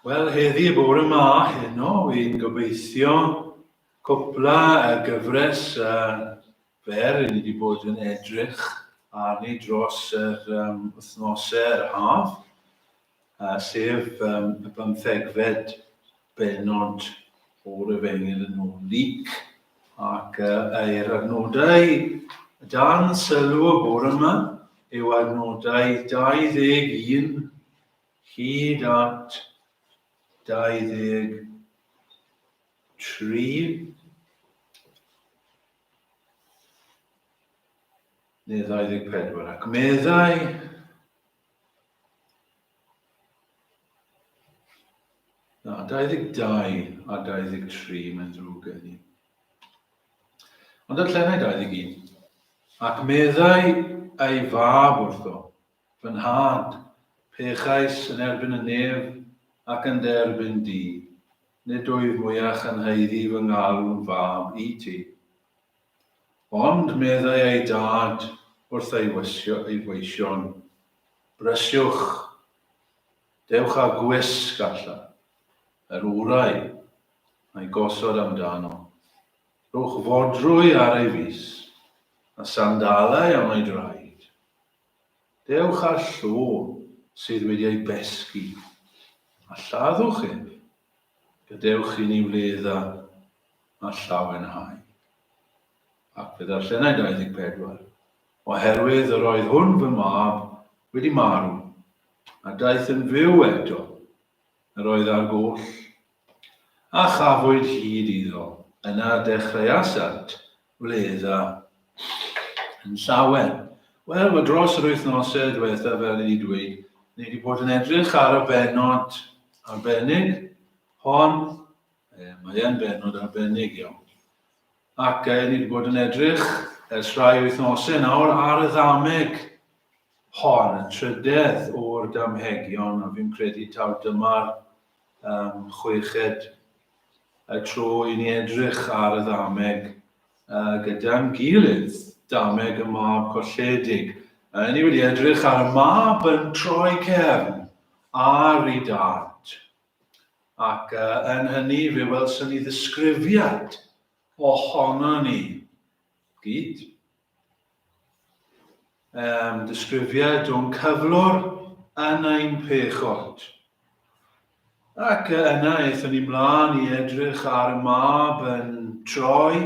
Wel, heddi bore ma heno, fi'n gobeithio cwpla y gyfres uh, fer i ni wedi bod yn edrych arni dros yr um, wythnosau, yr haf, uh, sef um, y bymthegfed bennod o Refengyl yn ôl Luc ac yr adnodau dan sylw y bore yma yw adnodau 21 hyd at 23 neu 24 ac meddai Na, 22 a 23, mae'n ddrwg gen i. Ond darllenai 21. Ac meddai ei fab wrtho, fy nhad, pechais yn erbyn y nef ac yn dy erbyn di, nid wyf mwyach yn haeddu fy ngalw'n fab i ti. Ond, meddai ei dad wrth ei weision, brysiwch, dewch â gwisg allan, yr orau, a'i gosod amdano. Rhowch fodrwy ar ei fys, a sandalau am ei draed. Dewch â llw sydd wedi ei besgi, a lladdwch ef, Gadewch i ni wledd a llawenhau. Ac fe ddarllenai 24, Oherwydd yr oedd hwn fy mab wedi marw, a daeth yn fyw eto, yr oedd ar goll, a chafwyd hyd iddo, yna dechreuasant wledd a yn llawer. Wel, mae dros yr wythnosau diwetha, fel i ni dweud, ni wedi bod yn edrych ar y benod arbennig hon. E, mae e'n benod arbennig iawn. Ac e, ni wedi bod yn edrych ers rhai wythnosau nawr ar y ddameg hon, y trydedd o'r damhegion, a fi'n credu taw dyma'r um, chweched y tro i ni edrych ar y ddameg uh, gyda'n gilydd, dameg y mab colledig. Uh, ni wedi edrych ar y mab yn troi cefn ar ei dad. Ac uh, yn hynny fe welson ni ddisgrifiad ohono ni gyd Um, disgrifiad o'n cyflwr yn ein pechod. Ac yna eithon ni mlaen i edrych ar y mab yn troi,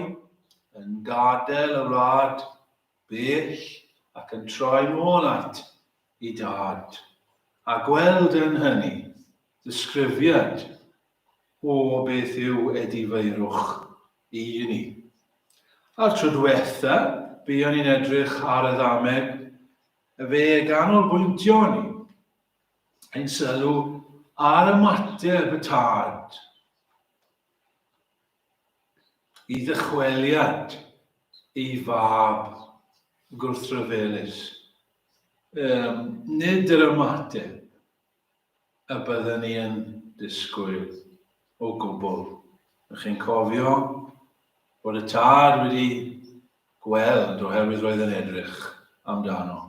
yn gadael y wlad bell ac yn troi nôl at i dad, a gweld yn hynny ddisgrifiad o beth yw edifeirwch i ni. A'r tro diwetha, buon ni'n edrych ar y ddameg, fe ganolbwyntio ni ein sylw ar ymateb y tad. i ddychweliad ei fab gwrthryfelus, um, nid yr ymateb y byddwn ni yn disgwyl o gwbl. Ych chi'n cofio bod y tad wedi gweld oherwydd roedd yn edrych amdano.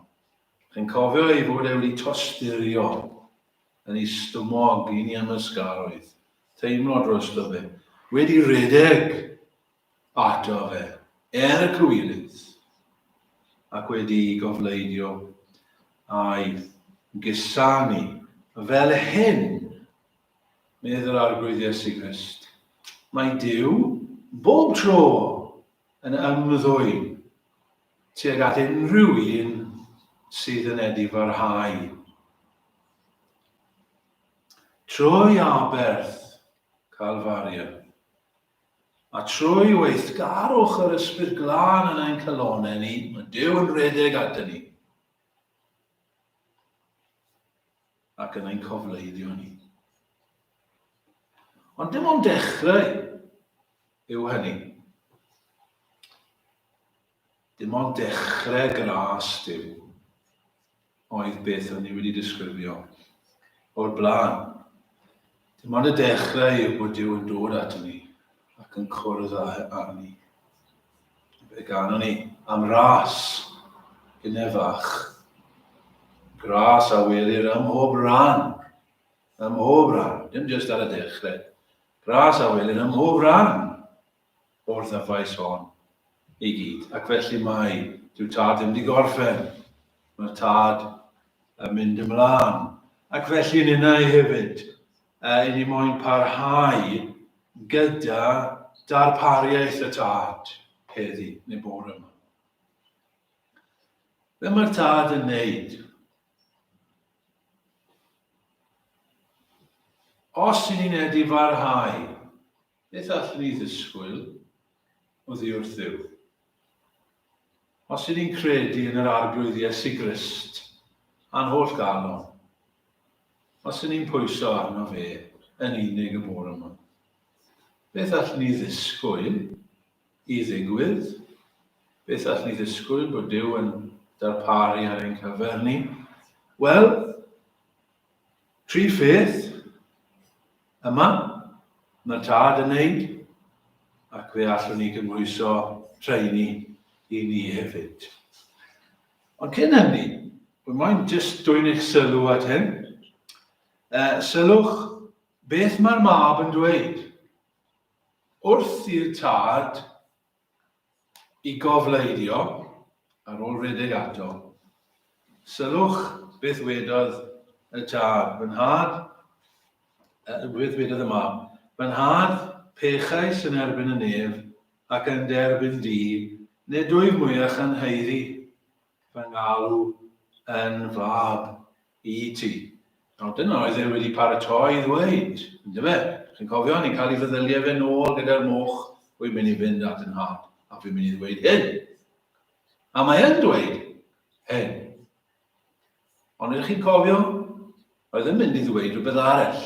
Ych chi'n cofio ei fod e wedi tosturio yn ei stumog i ni ymysgaroedd. Teimlo drosto fe. Wedi rhedeg ato fe er y cywilydd ac wedi gofleidio a'i gusanu fel hyn, medd yr Arglwydd Iesu Grist, mae Duw bob tro yn ymddwyn tuag at unrhyw un sydd yn edifarhau. Trwy aberth Calfaria, a trwy weithgarwch yr Ysbryd Glân yn ein calonau ni, mae Duw yn rhedeg ato ni ac yn ein cofleiddio ni. Ond dim ond dechrau yw hynny. Dim ond dechrau gras Duw oedd beth o'n i wedi disgrifio o'r blaen. Dim ond y dechrau yw bod Duw yn dod ato ni ac yn cwrdd â arni. Fe ganon ni am ras, hynne fach. Gras a welir ym mhob rhan, ym mhob rhan, dim jyst ar y dechrau. Gras a welir ym mhob rhan o'r ddyfais hon i gyd. Ac felly mae, dyw tad ddim wedi gorffen, mae'r tad yn mynd ymlaen. Ac felly ninnau hefyd, uh, i ni moyn parhau gyda darpariaeth y tad heddi, neu bore yma. Be mae'r tad yn neud? Os i ni'n edu farhau Beth allwn ni ddisgwyl oddi wrth Dduw? Os ŷd ni'n credu yn yr Arglwydd Iesu Grist a'n holl galon, os ŷd ni'n pwyso arno fe yn unig y bore yma, beth allwn ni ddisgwyl i ddigwydd? Beth allwn ni ddisgwyl bod Duw yn darparu ar ein cyfer ni? Wel, Prif beth, yma, mae Tad yn neud, ac fe allwn ni gymhwyso rheini i ni hefyd. Ond cyn hynny, wy moyn jyst dwyn eich sylw at hyn. E, sylwch beth mae'r mab yn dweud. Wrth i'r tad I gofleidio, ar ôl rhedeg ato, sylwch beth wedodd y tad, Fy nhad, beth wedodd y mab, Fy nhad, pechais yn erbyn y nef ac yn dy erbyn di, nid wyf mwyach yn haeddu fy ngalw yn fab. i ti. Nawr dyna oedd e wedi paratoi i ddweud, yndyfe? Chi'n cofio, ni'n cael ei feddyliau fe nôl gyda'r moch, wy'n mynd i fynd at y nhad, a fi'n mynd i ddweud hyn. A mae yn dweud hyn. Ond ydych chi'n cofio, oedd yn mynd i ddweud rhywbeth arall.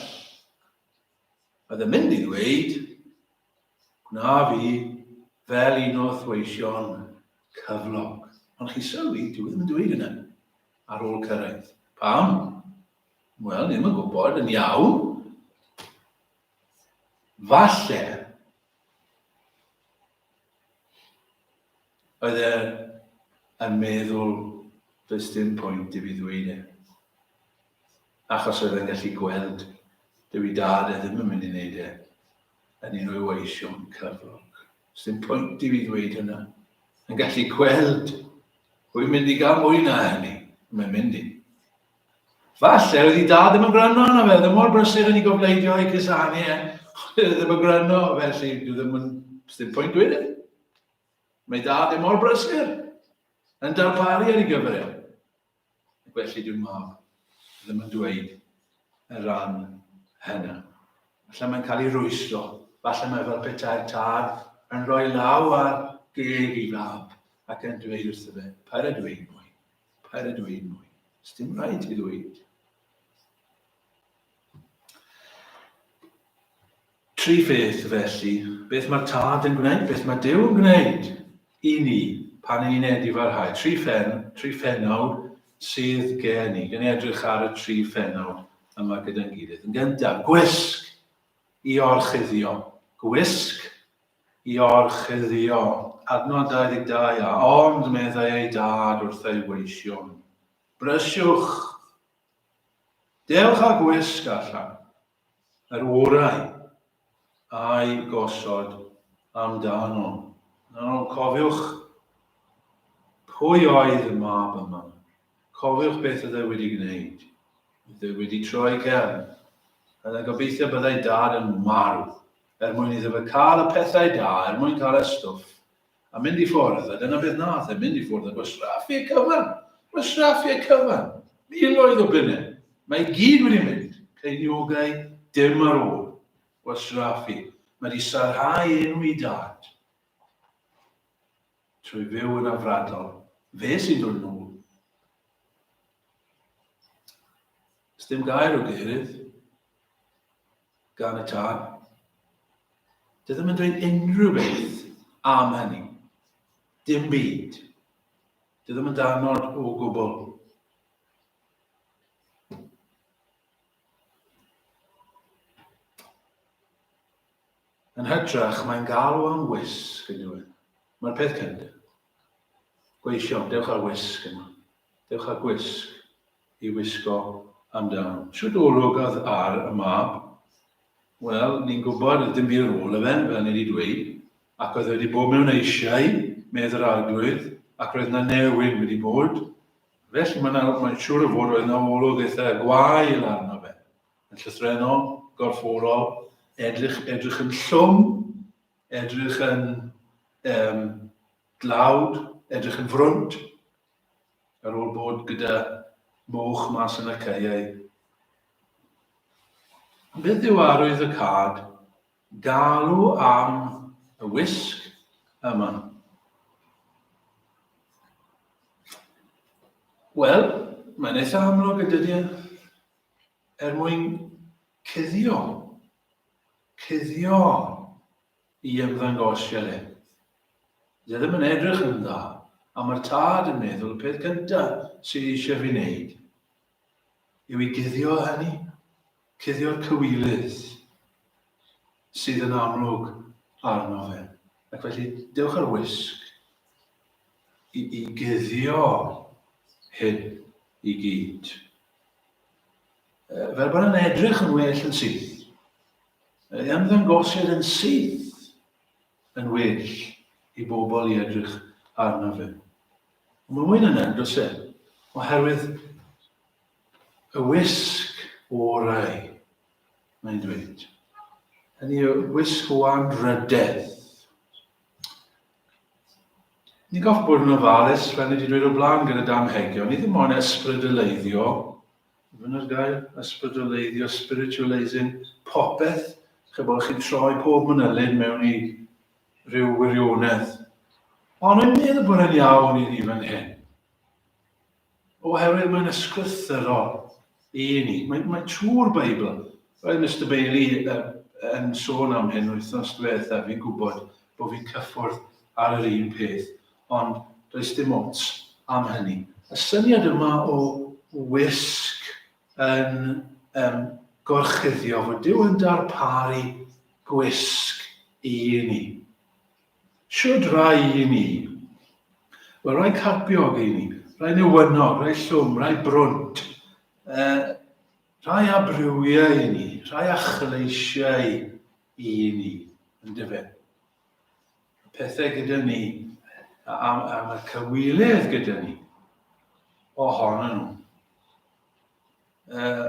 Oedd yn mynd i ddweud, Gwna fi fel un o thweision cyflog. Ond chi sylwi, dyw e ddim yn dweud yna ar ôl cyrraedd. Pam? Wel, ddim yn gwybod yn iawn. Falle oedd e yn meddwl does dim pwynt i fi ddweud e. Achos oedd e'n gallu gweld dyw i dad e ddim yn mynd i wneud e. yn ei rywoesio'n cyflog. Sdim pwynt i fi ddweud hynna. Yn gallu gweld, rwy'n mynd i gael mwy na hynny, mae'n mynd i. Falle oedd i dad ddim yn gwrando arno fe, ddim mor brysur yn ei gofleidio ei cusanu e, ddim yn gwrando, felly dwi ddim yn, ddim pwynt dweud e. Mae dad ddim mor brysur yn darparu ar ei gyfer e. ac felly dyw mab ddim yn dweud y rhan hynna. Falle mae'n cael ei rwystro, falle mae fel petai'r tad yn rhoi law ar geg ei fab ac yn dweud wrtho fe, paid â dweud mwy, paid â dweud mwy, dim rhaid ti ddweud. Tri pheth, felly, beth mae'r Tad yn gwneud, beth mae Duw yn gwneud i ni pan i ni'n edifarhau. Tri phen, tri phenawd sydd gen i. Gen i edrych ar y tri phenawd yma gyda'n gilydd. Yn gyntaf, gwisg i orchuddio. Gwisg i orchuddio. Adnod 22 a ond meddai ei dad wrth ei weision. Brysiwch! Dewch â gwisg allan, yr orau a'i gosod amdano. Nawr cofiwch pwy oedd y mab yma. Cofiwch beth oedd e wedi gwneud. Oedd e wedi troi cefn. Oedd e'n gobeithio byddai dad yn marw, er mwyn iddo fe cael y pethau da, er mwyn cael y stwff a mynd i ffwrdd, a dyna beth nath e, mynd i ffwrdd ac oedd sraffiau cyfan, oedd sraffiau cyfan, miloedd o bunne, mae i gyd wedi mynd, ceiniogau, dim ar ôl, oedd sraffi, mae wedi sarhau enw i dad. Trwy fyw yn afradol, fe sy'n dod yn ôl. Dim gair o geirydd. gan y tân. Dwi ddim yn dweud unrhyw beth am hynny. Dim byd. Dwi ddim yn danod o gwbl. Yn hytrach, mae'n galw am wisg yn dweud. Mae'r peth cyntaf. Gweision, dewch ar wisg yma. Dewch ar gwisg. i wisgo amdan. Shwt olwg oedd ar y mab? Wel, ni'n gwybod oedd dim byd ar ôl 'da fe, fel ni 'di dweud, ac oedd e wedi bod mewn eisiau, medd yr Arglwydd, ac roedd 'na newid wedi bod. Felly mae'n ma mae'n siŵr o fod roedd 'na olwg eitha gwael arno fe. Yn llythrennol, gorfforol, edrych, edrych yn llwm, edrych yn um, dlawd, edrych yn frwnt, Ar ôl bod gyda moch mas yn y caeau. Beth yw arwydd y cad? Galw am y wisg yma. Wel, mae'n eitha amlwg y dydy e. Er mwyn cuddio. Cuddio. i ymddangos Sialens. Fydd e ddim yn edrych yn dda, a mae'r tad yn meddwl y peth gynta sydd eisiau fi wneud yw i guddio hynny, cuddio'r cywilydd sydd yn amlwg arno fe. Ac felly, dewch ar wisg i, i guddio hyn i gyd. Fel bod yn edrych yn well yn syth. Ei ymddangosiad yn syth yn well i bobl i edrych arno fe. Mae mwy na hynny, does e? Oherwydd y wisg orau, mae'n dweud. Hynny y wisg o anrhydedd. Ni'n goffi bod yn ofalus, fel ni wedi dweud o blaen gyda Dan Hegion, ni ddim ond ysbrydeleiddio Dyna'r gair, ysbrydolleiddio, spiritualising, popeth, chybod, chi'n troi pob mynylyn mewn i ryw wirionedd. Ond yn meddwl bod yn iawn i ni fan hyn. Oherwydd mae'n ysgrythyrol i ni. Mae, mae trwy'r Beibl. Roedd Mr Bailey yn sôn am hyn wythnos diwetha, fi'n gwybod bod fi'n cyffwrdd ar yr un peth. ond does dim ots am hynny. Y syniad yma o wisg yn um, gorchuddio, fod Dyw yn darparu gwisg i ni. Siwd rai i ni. Wel, rai carpiog i ni, rai newynog, rai llwm, rai brwnt, uh, rai abrywiau i ni, rai achleisiau i ni, yn dyfyn. pethau gyda ni, am, am y cywilydd gyda ni, ohonyn nhw. Uh,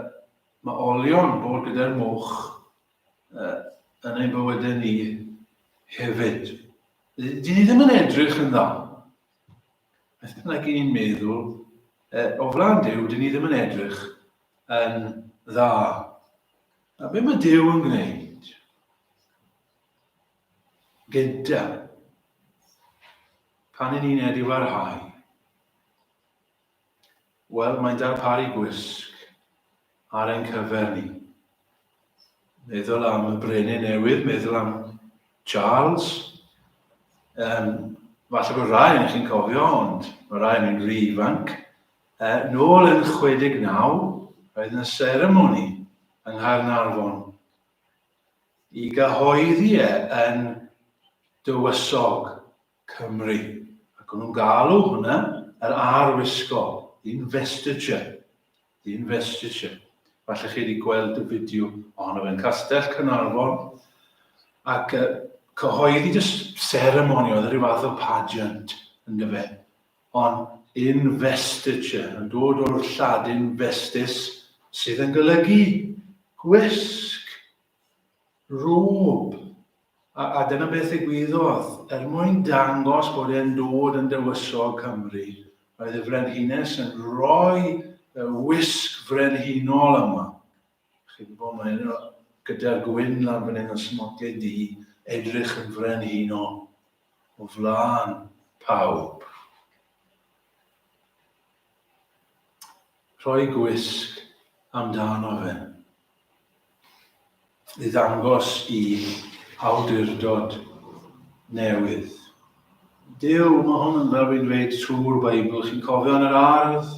mae olion bod gyda'r moch uh, yn ein bywydau ni hefyd. Dyn ni ddim yn edrych yn dda. Beth bynnag i ni'n meddwl, uh, o flan Dyw, dyn ni ddim yn edrych yn dda. A beth mae Dyw yn gwneud? gyda pan yn uned i farhau. Wel, mae'n darparu gwisg ar ein cyfer ni. Meddwl am y brenin newydd, meddwl am Charles. Um, falle bod rai yn chi'n cofio, ond mae rai yn yn rhy ifanc. Uh, nôl yn 69, roedd yna seremoni yng Nghaernarfon i gyhoeddi e yn Dywysog Cymru. Ac o'n nhw'n galw hwnna yr arwisgo, investiture. The investiture. Falle chi wedi gweld y fideo ohono fe'n Castell Cynarfon. Ac uh, cyhoeddi just ceremony, oedd rhyw fath o pageant, yn dyfe. Ond investiture yn dod o'r Lladin vestis sydd yn golygu gwisg, rôb, a, a dyna beth ddigwyddodd. Er mwyn dangos bod e'n dod yn dywysog Cymru, roedd y Frenhines yn rhoi y wisg frenhinol yma. Chi'n gwybod, mae yna gyda'r gwyn lan fan hyn yn smoclyd di, edrych yn frenhinol. o flaen pawb. Rhoi gwisg amdano fe. I ddangos i awdurdod newydd. Dyw, mae hwn yn fel fi'n dweud trwy'r Beibl, chi'n cofio yn yr ardd,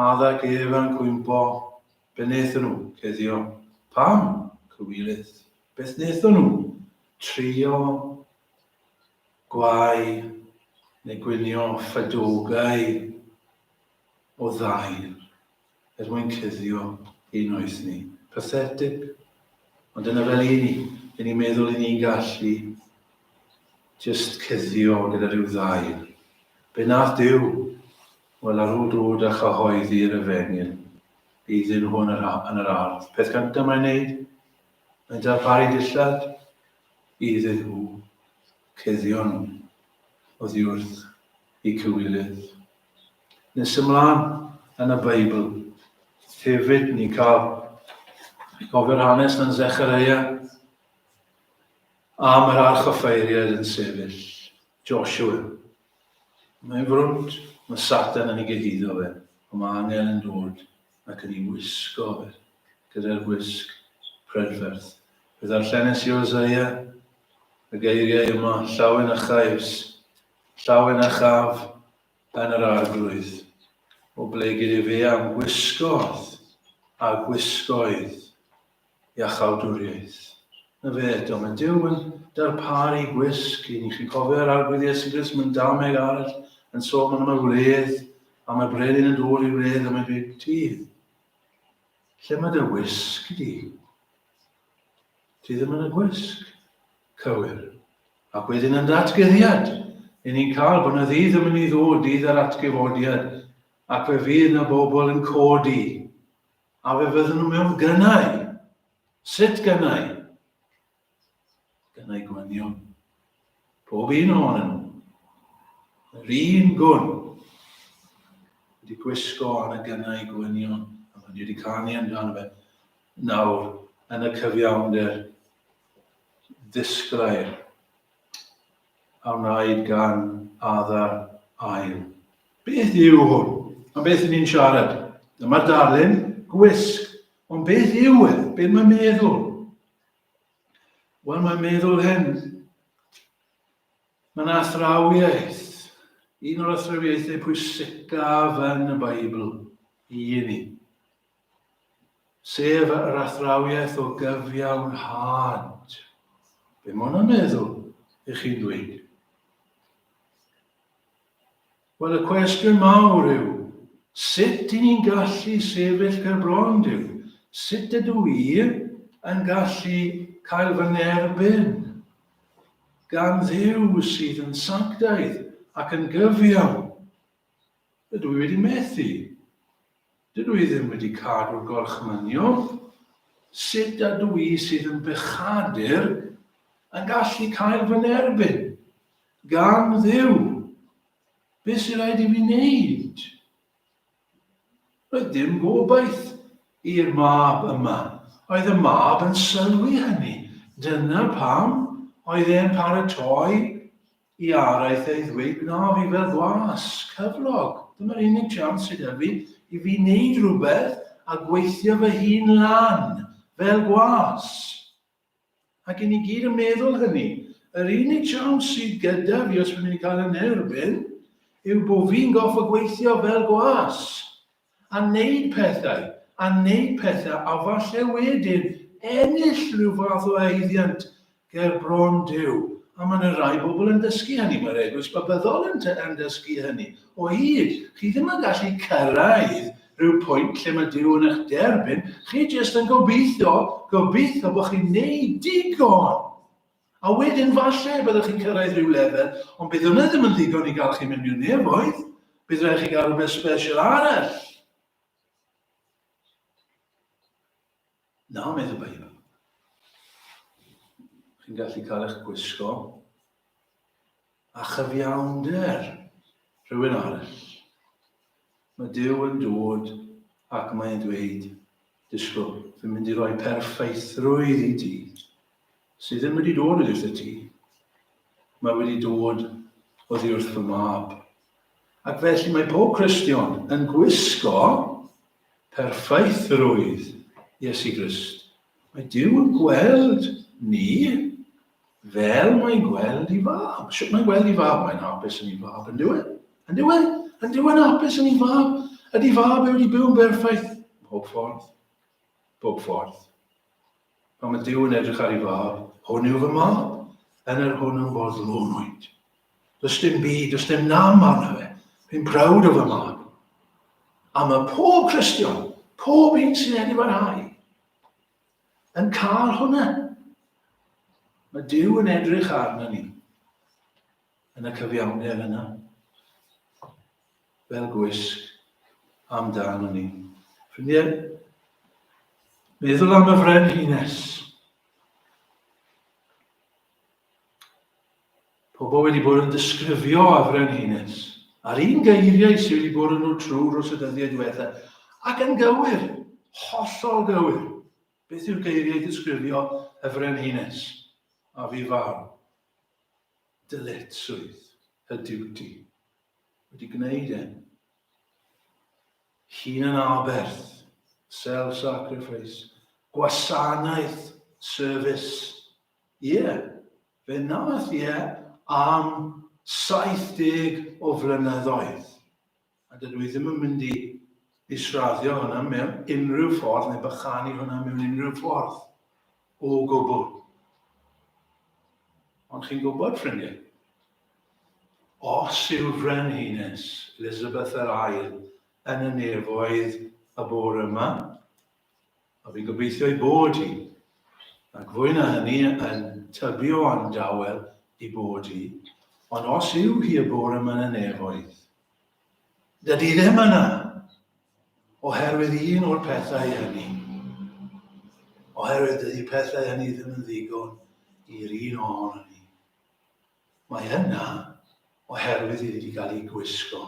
addag Efa'n cwympo, Be wnaethon nhw? Cuddio. Pam? Cywilydd. Beth wnaethon nhw? Trio gwau neu gwinio ffedogau o ddail er mwyn cuddio ein noeth ni. Pathetic. Ond dyna fel i ni. I ni meddwl i ni'n gallu just cuddio gyda rhyw ddail. Be nath Duw? Wel, ar ôl dod â chyhoeddi yr efengyl, iddyn nhw yn yr, yn yr ardd. Peth gyntaf mae'n neud, mae'n darparu dillad iddyn nhw cuddion oddi wrth ei cywilydd. Nes ymlaen yn y Beibl, hefyd ni cael gofio'r hanes yn Zechareia am yr archoffeiriad yn sefyll, Joshua Mae'n frwd, mae Satan yn ei gyhuddo fe, ond mae angel yn dod ac yn ei wisgo fe, gyda'r gwisg prydferth. Fe ddarllenes i Oseia y geiriau yma, llawen a chais, llawen a chaf yn yr arglwydd, o ble gyda fe am gwisgodd a gwisgoedd. iachawdwriaeth. Na fe, do, mae Dyw yn darparu gwisg i ni. Chi'n cofio yr arglwydd Iesu Grist mewn dameg arall yn sôn am y wledd, a mae brenin yn dod i wledd am ei big tydd. Lle mae dy wisg di? Ti ddim yn y gwisg. Cywir. Ac wedyn yn datgeddiad, i ni'n cael bod yna ddydd yn mynd i ddod, dydd yr atgyfodiad, ac fe fydd yna bobl yn codi A fe fydden nhw mewn gynnau. Sut gynnau? Gynnau gwynion. Pob un ohonyn nhw. Yr un gwn. Wedi gwisgo ar y gynnau gwynion. A mae wedi canu amdano fe. Nawr, yn y cyfiawnder, ddisglair. a wnaed gan Adar Ail. Beth yw hwn? Am beth yn ni'n siarad? Dyma darlun gwisg. Ond beth yw e? Beth mae'n meddwl? Wel, mae'n meddwl hyn. Mae'n athrawiaeth. Un o'r athrawiaethau pwysicaf yn y Beibl i ni. sef yr athrawiaeth o gyfiawnhad. Be mae hwnna'n meddwl i chi'n dweud? Wel, y cwestiwn mawr yw, sut i ni'n gallu sefyll ger bron Duw? Sut ydw i yn gallu cael fy nerbyn gan ddiw sydd yn sanctaidd ac yn gyfiawn? Dydw i wedi methu. Dydw i ddim wedi cadw'r gorchmynion. Sut ydw i sydd yn bechadur yn gallu cael fy nerbyn? Gan Dduw! Beth sy'n rhaid i fi wneud? Roedd dim gobaith i'r mab yma. Oedd y mab yn sylwi hynny. Dyna pam oedd e'n paratoi I araith ei ddweud na fyddai'r flas cyflog, dyma'r unig siawns sydd 'da fi i fi wneud rhywbeth a gweithio fy hun lan, fel gwas. Ac i ni gyd yn meddwl hynny. Yr unig siawns sydd gyda fi, os fi'n mynd i cael yn erbyn, yw bod fi'n goffa gweithio fel gwas. a wneud pethau, a wneud pethau a falle wedyn ennill rhyw fath o haeddiant ger bron Duw. A mae yna rai bobl yn dysgu hynny, mae'r Eglwys Babyddol yn, yn dysgu hynny. O hyd, chi ddim yn gallu cyrraedd rhyw pwynt lle mae Duw yn eich derbyn, chi jyst yn gobeithio, gobeithio bod chi'n neud digon. A wedyn falle y byddwch chi'n cyrraedd rhyw lefel, ond bydd hwnna ddim yn ddigon i gael chi mewn i'r nefoedd. Bydd rhaid chi gael rhywbeth special arall. Na, meddwl Beibl. Chi'n gallu cael eich gwisgo A chyfiawnder rhywun arall. Mae Duw yn dod ac mae'n dweud, disgwyl, fi'n mynd i roi perffaithrwydd i ti, sydd ddim wedi dod o gyda ti. Mae wedi dod oddi wrth fy mab. Ac felly mae pob Cristion yn gwisgo perffaithrwydd Iesu Grist. Mae Dyw yn gweld ni Fel mae'n gweld i fab. Sut mae'n gweld i fab? Mae'n hapus yn ei fab, yn diwedd. Yn diwedd, yn diwedd hapus yn ei fab. Ydy fab wedi byw yn berffaith? Bob ffordd. Bob ffordd. Pan mae Dyw yn edrych ar ei fab, hwn yw fy mab, yn yr hwn yn boddlonwyd. Does dim byd, does dim nam arno fe. Fi'n prawd o fy mab. A mae pob Cristion, pob un sy'n edrych ar hau, yn cael hwnna. Mae Dyw yn edrych arno ni yn y cyfiawnder yna. Fel gwisg amdano ni. Ffrindiau, meddwl am y frenhines. Pobl wedi bod yn disgrifio a frenhines, a'r un geiriau sydd wedi bod yn nhw trwy dros y dyddiau diwetha, ac yn gywir, hollol gywir. Beth yw'r geiriau disgrifio y frenhines? A fi farw. Dyletswydd y diwti. Wedi gwneud e. Hun yn aberth, self-sacrifice, gwasanaeth, service, Ie, fe wnaeth e am 70 o flynyddoedd, a dydw i ddim yn mynd i israddio hwnna mewn unrhyw ffordd neu bychanu hwnna mewn unrhyw ffordd o gwbl. Ond chi'n gwybod, ffrindiau, os yw'r Frenhines Elizabeth yr Ail yn y nefoedd y bore yma, A fi'n gobeithio ei bod hi, ac fwy na hynny yn tybio am dawel ei bod hi, ond os yw hi y bore yma yn y nefoedd, dydy ddim yna, oherwydd un o'r pethau hynny, oherwydd dydy pethau hynny ddim yn ddigon i'r un ohono ni. Mae yna oherwydd iddi wedi cael ei gwisgo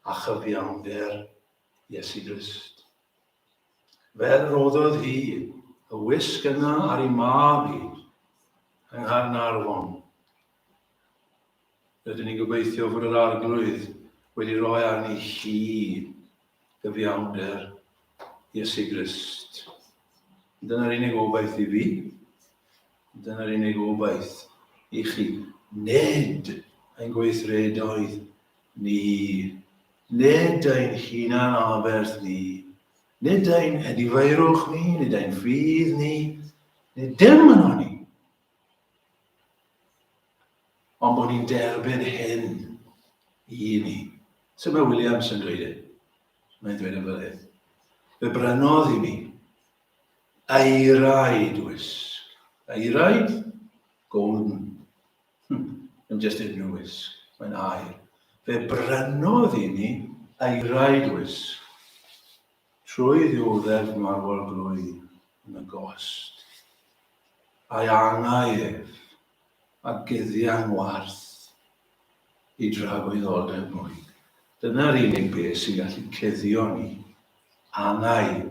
a chyfiawnder Iesu Grist. Fel rhoddodd hi y wisg yna ar ei mab hi yng Nghaernarfon. Rydyn ni'n gobeithio fod yr Arglwydd wedi rhoi arni hi gyfiawnder Iesu Grist. Dyna'r unig obaith i fi. Dyna'r unig obaith i chi. Nid ein gweithredoedd Ni, nid ein hunan-aberth ni, nid ein edifeirwch ni, nid ein ffydd ni, nid dim yn o'n ni. Ond bod ni'n derbyn hyn i ni. Sut mae Williams yn dweud e? Mae'n dweud yn fel hyn. Fe brynodd i mi eiraid wisg. Eiraid golden. Hmm, yn just yn nwys, mae'n air. Fe brynodd i ni eirau dwys. Trwy ddiwddef marwol glwy yn y gost. A'i angau ef, a gyddian warth i dragwyddoldeb mwy. Dyna'r unig beth sy'n gallu cuddio ni, angau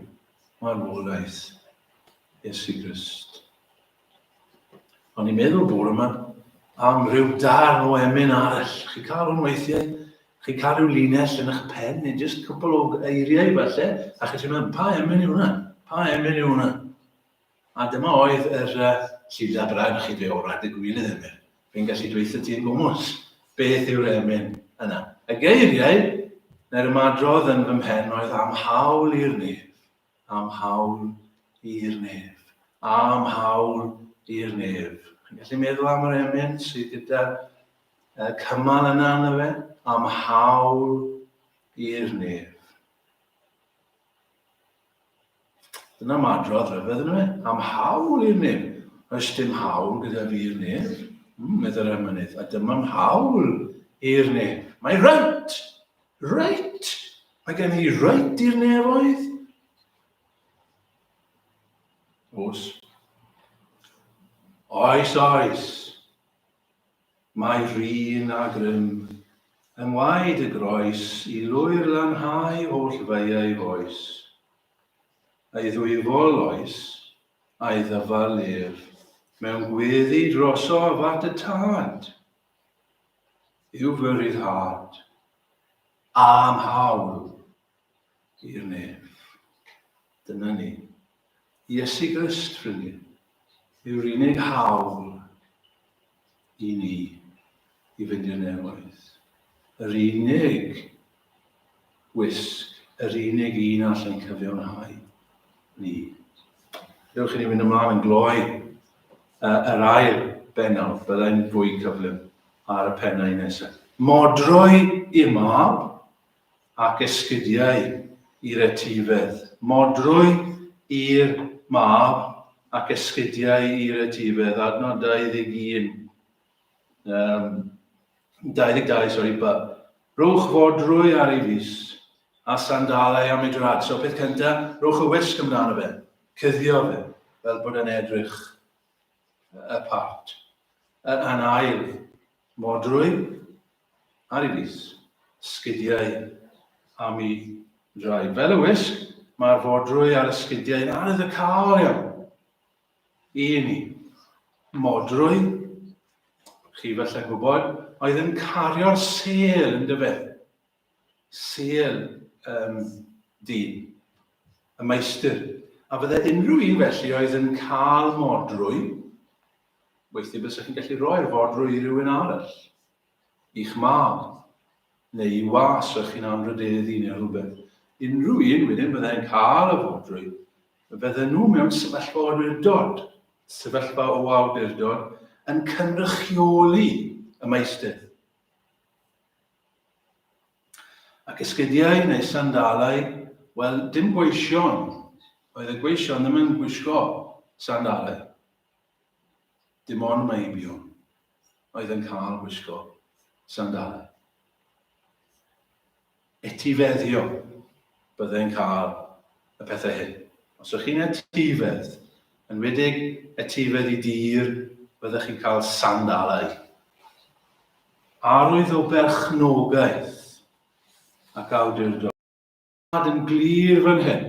marwolaeth Iesu Grist. O'n i'n meddwl bore yma am rhyw darn o emyn arall. Chi cael hwn weithiau, chi cael rhyw linell yn eich pen, neu jyst cwpl o eiriau falle, a chi ti'n meddwl, pa emyn yw hwnna? Pa emyn yw hwnna? A dyma oedd yr uh, llida brad chi dweud, o rad y gwylio ddim er. Fi'n gallu dweithio ti'n gwmwys. Beth yw'r emyn yna? Y geiriau, neu'r ymadrodd yn fy mhen oedd am hawl i'r nef. am hawl i'r nef. Am hawl i'r nef. Chi'n gallu meddwl am yr emyn sydd gyda y cymal yna yna fe? Am hawl i'r nef. Dyna madrodd rhyfedd yna fe. Am hawl i'r nef. Oes dim hawl gyda fi'r nef? Mm, meddwl emynydd. A dyma'm hawl i'r nef. Mae rhynt! Reit! Mae gen i reit i'r nefoedd. Oes. Oes, oes. Mae rhin a grym yng ngwaed y groes i lwyr lanhau oll feiau foes. Ei ddwyfol oes, a'i ddyfal ef, mewn gweddi drosof at y tad, yw fy rhyddhad a'n hawl i'r nef. Dyna ni. Iesu Grist, ffrindiau, yw'r unig hawl i ni i fynd i'r nefoedd. Yr unig Gwisg, yr unig un all ein cyfiawnhau ni. Dewch i ni fynd ymlaen yn gloi uh, yr ail bennawd, byddai'n fwy cyflym ar y pennau nesaf. Modroi i mab ac esgidiau i'r etifedd. Modroi i'r mab ac esgidiau i'r etifedd, adnod 21, um, 22, sorry, ba, Rhowch fordrwy ar ei fys, a sandalau am ei draed. So, peth cynta, rhowch y wisg amdano fe. Cuddio fe, fel bod e'n edrych y part. Yn ail, modrwy ar ei fys, sgidiau am ei draed. Fel y wisg, mae'r fordrwy ar y sgidiau yn arwydd y caol iawn. Un i. Modrwy, chi falle gwybod, oedd yn cario'r sel yn dyfe. Sel um, dyn, y maestr. A fydde unrhyw un felly oedd yn cael modrwy, weithio bys chi'n gallu rhoi'r fodrwy i rywun arall. i'ch mab, neu i was fach chi'n anrhydeddu neu rhywbeth, unrhyw un wedyn byddai'n cael y fodrwy, fydden nhw mewn sefyllfa o awdurdod, sefyllfa o awdurdod yn cynrychioli y maestydd. Ac esgidiau neu sandalau, wel, dim gweision, oedd y gweision ddim yn gwisgo sandalau. Dim ond meibion oedd yn cael gwisgo sandalau. Etifeddio byddai'n cael y pethau hyn. Os ydych chi'n etifedd, yn wedig etifedd i dir, byddech chi'n cael sandalau. Arwydd o berchnogaeth ac awdurdod. Yn glir fan hyn.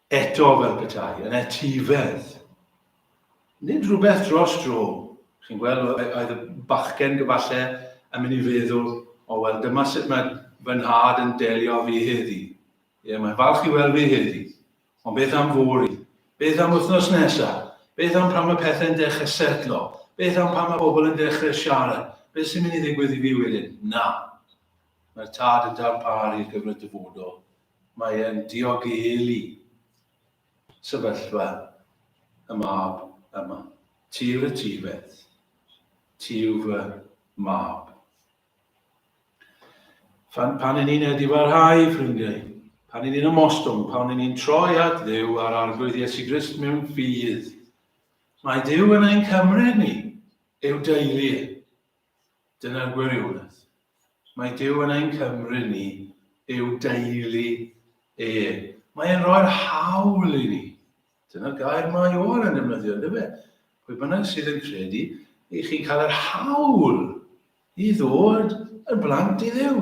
Eto fel petai yn etifedd. Nid rhywbeth dros dro, chi'n gweld, oedd y bachgen gyfalle yn mynd i feddwl, o wel dyma sut mae fy nhad yn delio â fi heddi. Ie, mae'n falch i weld fi heddi. Ond beth am fory? Beth am wythnos nesa? Beth am pan mae pethau'n dechrau setlo? Beth am pan mae pobl yn dechrau siarad? Beth sy'n mynd i ddigwydd i fi wedyn? Na. Mae'r tad yn darparu gyfer y dyfodol, Mae e'n diogelu sefyllfa y mab yma. Ti yw'r etifedd. Ti yw fy mab. Fan pan i ni'n edifarhau, ffrindiau, pan i ni'n ymostwng, pan i ni'n troi at ddew ar arglwydd Iesu Grist mewn ffydd, mae Dyw yn ein cymryd ni, eu deulu e. Dyna'r gwirionedd. Mae Duw yn ein cymryd ni i'w deulu e. Mae e'n rhoi'r hawl i ni. Dyna'r gair mae Ioan yn defnyddio, ynddo fe? Pwy bynnag sydd yn credu, i chi'n cael yr hawl i ddod yn blant i ddew.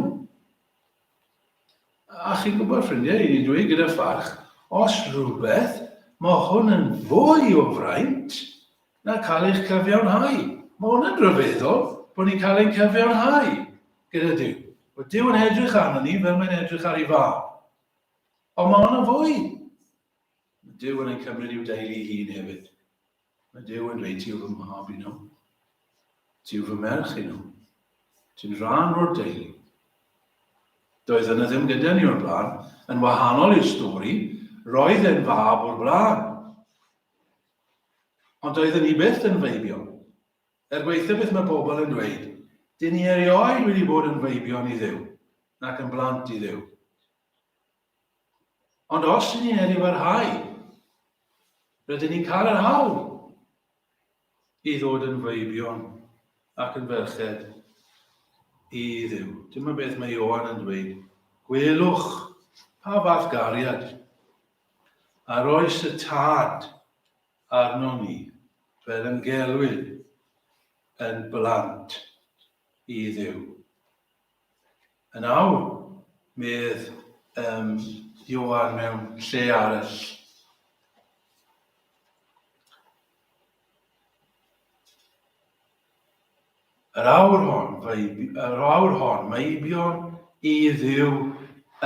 A chi'n gwybod, ffrindiau, i ni dweud gyda pharch, os rhywbeth, mae hwn yn fwy o fraint na cael eich cyfiawnhau. Mae hwn yn ryfeddol bod ni'n cael ein cyfiawnhau gyda Duw. Mae Duw yn edrych arno ni fel mae'n edrych ar ei fab. Ond mae hwn yn fwy. Mae Duw yn ei cymryd i'w deulu hun hefyd. Mae Duw yn dweud, ti yw fy mhab i nhw. Ti yw fy merch i nhw. Ti'n rhan o'r deulu. Doedd yna ddim gyda ni o'r blaen, yn wahanol i'r stori, roedd e'n fab o'r blaen. Ond doedden ni byth yn feibio. Er gweithio beth mae pobl yn dweud, dyn ni erioed wedi bod yn feibion i ddew, nac yn blant i ddew. Ond os ydyn ni'n edrych parhau, rydyn ni'n cael yr hawl i ddod yn feibion ac yn ferched i ddiw. Dyma beth mae Ioan yn dweud. Gwelwch pa fath gariad ar oes y tad arno ni fel yn gelwyd yn blant i ddiw. Yn awr, medd um, Ioan mewn lle arall. Yr awr hon, yr awr hon, mae eibion i ddiw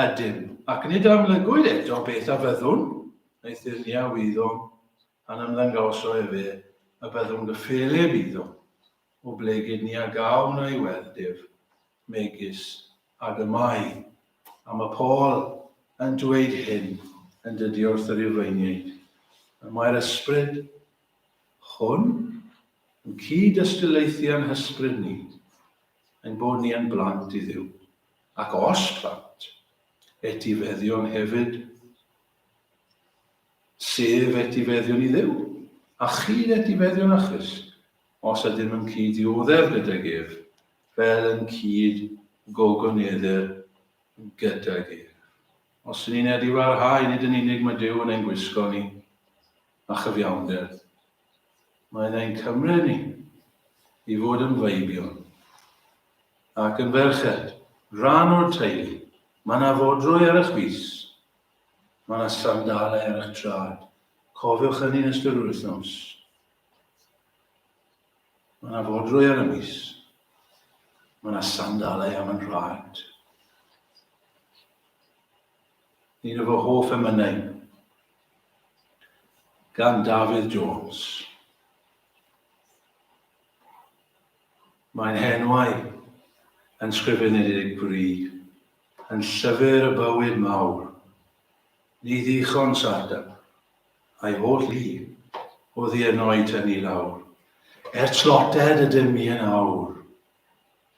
ydym, ac nid amlygwyd eto beth a fyddwn, neu thyrnia wyddom, pan ymddangosoi fe, y byddwn gyffelib iddo. Oblegid ni a gawn a'i weld ef, megis, ag y mae, a mae Paul yn dweyd hyn yn dydy wrth y Rufeiniaid, y mae'r ysbryd hwn yn cyd ystyleithu a'n hysbryd ni, ein bod ni yn blant i Dduw, ac os plant, etifeddion hefyd, sef etifeddion i Dduw, a chyd etifeddion â Christ, Os ydym yn cyd-dioddef gydag ef, fel yn cyd-gogoneddir gydag ef. Os yn ni'n edifarhau, nid yn unig mae Duw yn ein gwisgo ni â chyfiawnder, mae yna ein cymryd ni i fod yn feibion ac yn ferched, rhan o'r teulu. Mae yna fodrwy ar eich fys. Mae yna sandalau ar eich trad. Cofiwch hynny yn ystod yr wythnos. Mae yna fodrwy ar y mis. Mae yna sandalau am yn rhad. Un o fy hoff emynau gan Dafydd Jones. Mae'n henwau yn sgrifenedig bri, yn llyfr y bywyd mawr. Ni ddichon sarda, A'i holl lu, oddi yno'i tynnu lawr, Er tlotted ydym ni yn awr,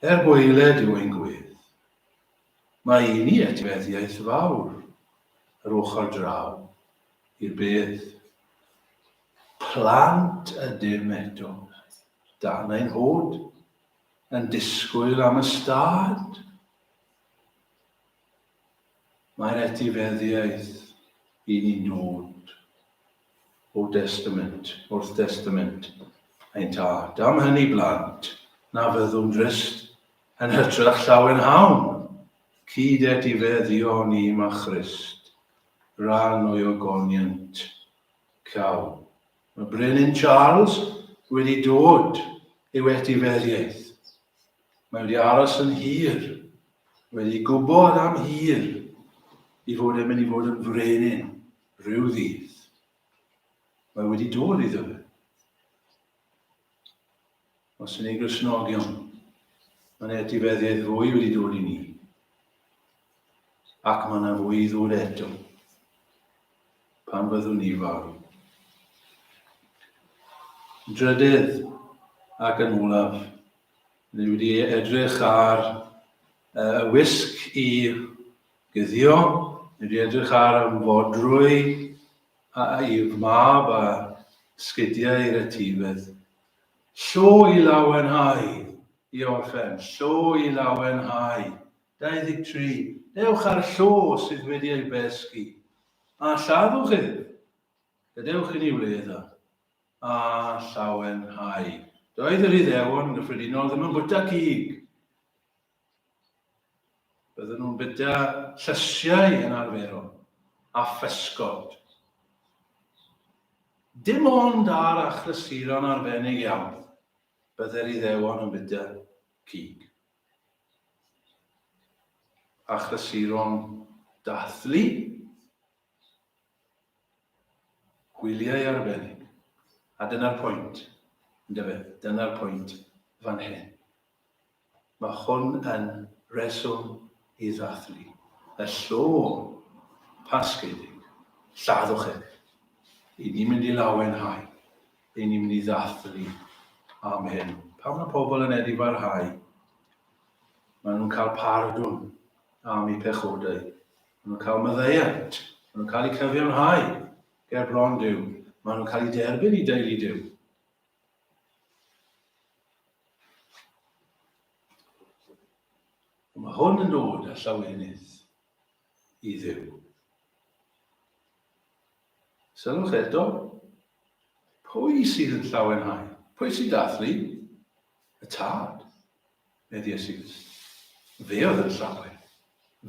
Er gwaeled yw ein gwedd. Mae i ni etifeddiaeth fawr, Yr ochr draw i'r bedd. Plant ydym eto, dan ein hod, Yn disgwyl am ystâd. Mae'r etifeddiaeth i ni'n dod o destament wrth destament ein tad. Am hynny, blant, na fyddwn drist yn hytrach llawen hawn, cyd etifeddion i ma Christ, rhan o'i ogoniant. Caw. Mae Brenin Charles wedi dod i'w etifeddiaeth. Mae wedi aros yn hir, wedi gwybod am hir i fod yn mynd i fod yn frenin rhyw ddydd. Mae wedi dod i fe. Os yn ei grisnogion, mae'n etifeddydd fwy wedi dod i ni. Ac mae yna fwy i ddod eto pan fyddwn ni farw. Drydydd ac yn olaf, Ni wedi edrych ar y wisg i guddio, ni wedi edrych ar y fodrwy a i'r mab a sgidiau i'r etifedd. Llo i lawenhau! I orffen, llo i lawenhau! 23, Dewch â'r llo sydd wedi ei besgi, a lladdwch ef! Gadewch i ni wledd a. a llawenhau. Doedd yr Iddewon yn gyffredinol ddim yn bwyta cig. Bydden nhw'n bwyta llysiau yn arferol, a physgod. Dim ond ar achlysuron arbennig iawn, bydde'r Iddewon yn bwyta cig. Achlysuron dathlu, Gwyliau arbennig. A dyna'r pwynt, yndyfe, dyna'r pwynt fan hyn. Mae hwn yn reswm i ddathlu y llong Pasgedig, lladdwch ef. Ry'n ni'n mynd i lawenhau, ry'n ni'n mynd i ddathlu am hyn. Pan mae pobl yn edifarhau, maen nhw'n cael pardwn am eu pechodau. Maen nhw'n cael maddeuant. Maen nhw'n cael eu cyfiawnhau ger bron Duw. Maen nhw'n cael eu derbyn i deulu Duw. Mae hwn yn dod â llawenydd i ddiw. Sylwch eto, pwy sydd yn llawenhau? Pwy sy'n dathlu? Y tad. Medd Iesus. Fe oedd yn llawen.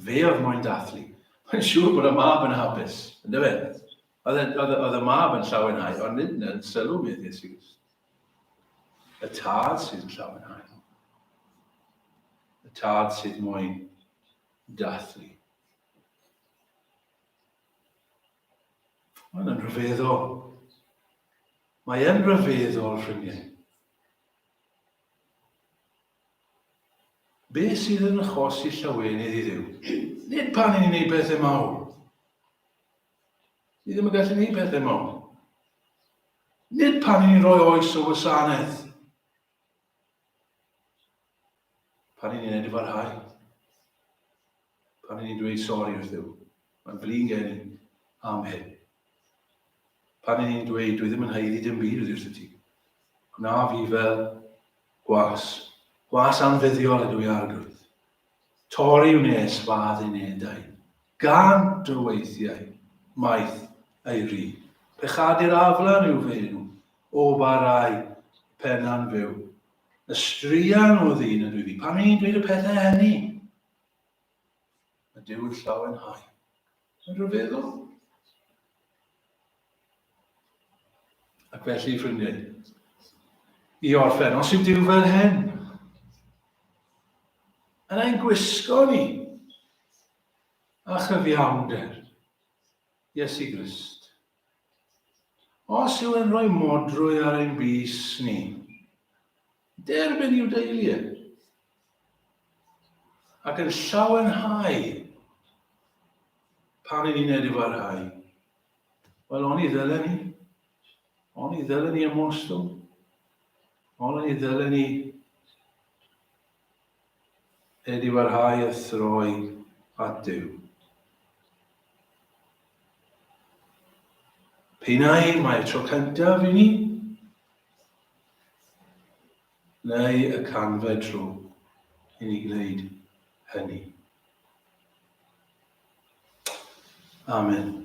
Fe oedd moyn dathlu. Mae'n siŵr bod y mab yn hapus, yn dyfe? Oedd y mab yn llawenhau, ond nid yn sylw medd Iesus. Y tad sydd yn llawenhau. Y tad sydd moyn dathlu. Mae'n yn rhyfeddol. Mae'n rhyfeddol, ffrindiau. Be sydd yn achos i llawenydd i Dduw? Nid pan ni'n ei bethau mawr. Ni ddim yn gallu ei bethau mawr. Nid pan ni'n rhoi oes o wasanaeth. Pan ni'n ei wneud i farhau. Pan i ni'n dweud sori wrth Dduw, mae'n flin gen i am hyn. Pan i ni'n dweud, dwi ddim yn haeddu dim byd oddi wrth ti. Gwna fi fel gwas. Gwas anfuddiol ydw i arglwydd. Torri wnes fad i nedau. Gan dy weithiau, maeth ei ri. Pechadur aflan i'w fenw, o barai pena'n fyw. Y straean o ddyn ydw i fi. Pan i ni'n dweud y pethau hynny, A dyw'r llawen hau yn rhyfeddol. Ac felly, ffrindiau, i orffen, os yw Dyw fel hen, yn ein gwisgo ni a chyfiawnder Iesu Grist. Os yw'n rhoi modrwy ar ein bys ni, Derbyn i'w deulu e. Ac yn llawenhau pan yn ni'n edrych ar hau. Wel, oni ddelen ni? Oni ddelen ni ymostwng? Oni ddelen ni Er i barhau a throi at Duw. P'un ai mae tro cyntaf i ni, neu y canfed tro i ni gwneud hynny. Amen.